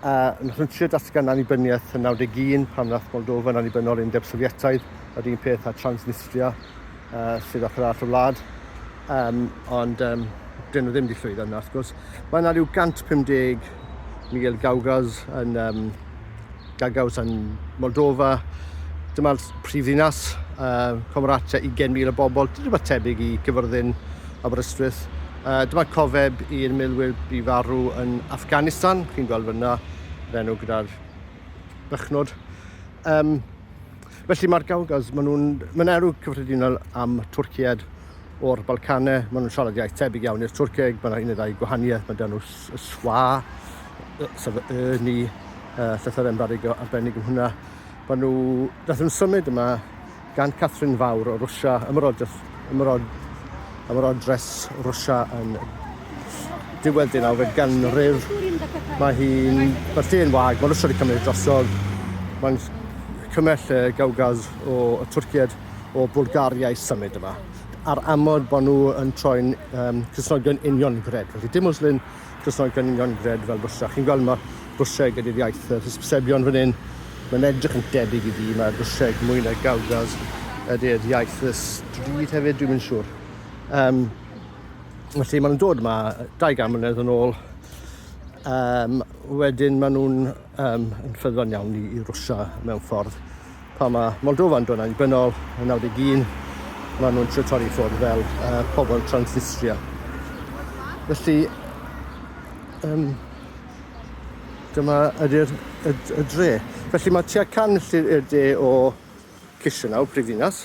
a nhryntio datgan annibyniaeth yn 91 pan wnaeth Moldofa yn annibynnol i'r Undeb Sofietaidd, yr un peth â Transnistria uh, sydd ochr arall y wlad. Um, ond um, dyn nhw ddim wedi llwyddo yna, wrth gwrs. Mae yna rhyw 150 Miguel Gaugas yn, um, Gagaus yn Moldofa. Dyma'r prif ddinas, uh, Comratia, 20,000 o bobl, rhywbeth tebyg i gyfyrddin Aberystwyth. Uh, dyma cofeb i'r milwyr i farw yn Afghanistan, chi'n gweld fyna, yr enw gyda'r bychnod. Um, felly mae'r Gawgaz, maen nhw'n ma erw cyffredinol am Twrcied o'r Balcanau, maen nhw'n siarad iaith tebyg iawn i'r Twrceg, mae yna un neu ddau gwahaniaeth, mae dyn y swa, sef y ni, uh, llythyr embarig arbennig yn hwnna. Maen nhw, nath nhw'n symud yma gan Catherine Fawr o Rwsia, ymerodres Rwsia yn diwedd deunawfed ganrif. Mae hi'n bertyn yn wag, mae Rwsia wedi cymryd drosodd. Mae'n cymell y Gawgaz o y Twrcied o Bwlgaria i symud yma, ar amod bod nhw yn troi'n um, Cysnogion uniongred. Felly dim Muslim, Croesawu cynnigion gred fel bwsa. Chi'n gweld ma bwseg ydy'r iaith yr hysbysebion fan hyn. Mae'n edrych yn debyg i fi, mae bwseg mwy na gawgaz ydy'r iaith y stryd hefyd, dwi'n mynd siŵr. Um, felly maen nhw'n dod yma dau gan mlynedd yn ôl. Um, wedyn maen nhw'n um, yn ffyddlon iawn i, i Rwsia mewn ffordd. Pa mae Moldova'n dod yn bynol yn 91, maen nhw'n trio torri ffwrdd fel uh, pobl Transnistria. Felly, um, dyma ydy'r y, y dre. Felly mae tua can milltir i'r de o Chisinau, prifddinas,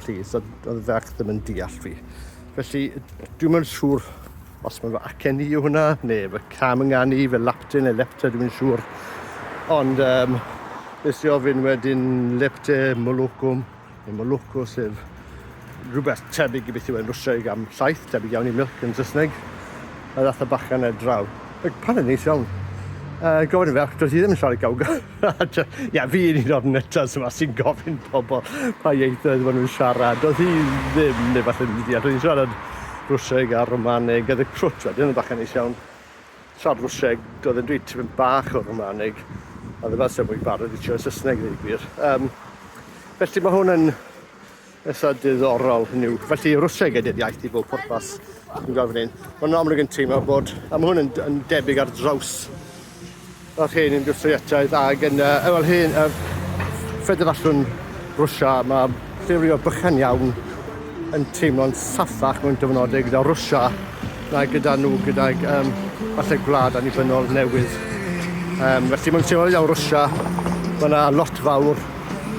plîs, a oedd y ferch ddim yn deall fi. Felly, dwi'n mynd siŵr os mae'n fy acen i yw hwnna, neu fy cam yn gan i, fy lapte neu lepte, dwi'n mynd siŵr. Ond um, nes i ofyn wedyn lepte molwcwm, neu molwcw, sef rhywbeth tebyg i beth yw e'n Rwsiaig am llaeth, tebyg iawn i milk yn Saesneg, a ddath y bachan ar draw. Ac pan yn neis iawn, uh, gofyn y ferch, doedd hi ddim yn siarad gawga. Ie, fi yn un o'r nyttas yma sy'n gofyn pobl pa ieithoedd maen nhw'n siarad. Doedd hi ddim, neu falle ddim wedi Roedd hi'n siarad Rwseg a Romaneg, oedd y crwt wedyn yn bach yn neis iawn. Siarad Rwseg, doedd e'n dweud tipyn bach o Romaneg, a ddim fel sef mwy barod i trio Saesneg ddweud gwir. Um, felly mae hwn yn Eitha diddorol hynny yw. Felly Rwsieg ydy'r iaith i bob pwrpas. Dwi'n gweld fan hyn. Mae'n amlwg yn teimlo bod... A mae hwn yn, yn debyg ar draws yr hen industriaethau ag yn uh, wel hen uh, ffederasiwn Rwysia mae llirio bychan iawn yn teimlo'n saffach mewn dyfynodau gyda Rwysia na gyda nhw gydag um, falle gwlad annibynnol newydd. Um, felly mae'n teimlo iawn Rwysia, mae yna lot fawr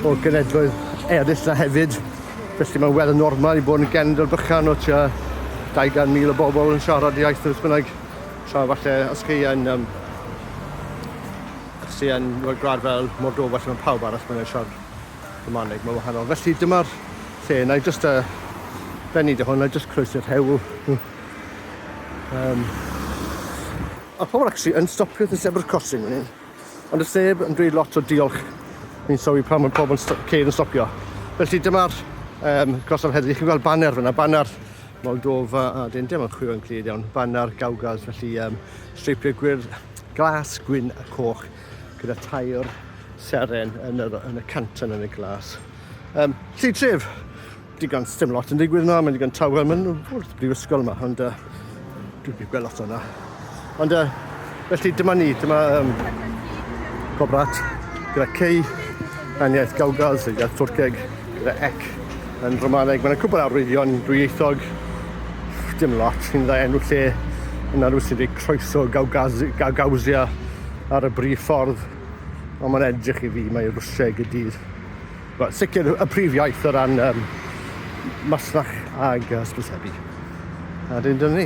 o genedloedd eraill 'na hefyd. Felly mae'n weddol normal i bod yn genedl bychan o tua 200,000 o bobl yn siarad y iaith wrth bynnag. Tra falle os chi yn um, os chi yn well, gwlad fel Moldova lle mae pawb arall yn siarad Romaneg, mae'n wahanol. Felly dyma'r lle, na i jyst uh, benni dy hwn, na i jyst croesi'r hewl. um, a pobl actually yn stopio at y zebra crossing fan hyn. Ond does neb yn dweud lot o diolch fi'n sylwi pan mae pobl yn sto- ceir yn stopio. Felly dyma'r um, gorsaf heddlu. Chi'n gweld baner fyna, baner Moldova a dyn dim yn chwilio'n clir iawn. Baner Gawgaz, felly um, streipiau gwyrdd, glas, gwyn a coch gyda tair seren yn, yr, yn y canton yn y glas. Um, lli tref, Digon, sdim lot yn digwydd yma, mae'n digon tawel, mae'n wrth brifysgol yma, ond uh, dwi'n byw gweld lot o'na. Ond uh, felly dyma ni, dyma um, gobrat gyda cei, yn iaith Gawgaz, yn iaith Twrceg, gyda ec yn Romaneg. Mae'n cwbl arwyddion dwyieithog, dim lot, sy'n dda enw lle yna rhyw sy'n dweud croeso Gawgazia ar y brif ffordd. Ond mae'n edrych i fi, mae Rwsieg y dydd. Wel, sicr y prif iaith o ran um, masnach ag hysbysebu. A dyn dyn ni.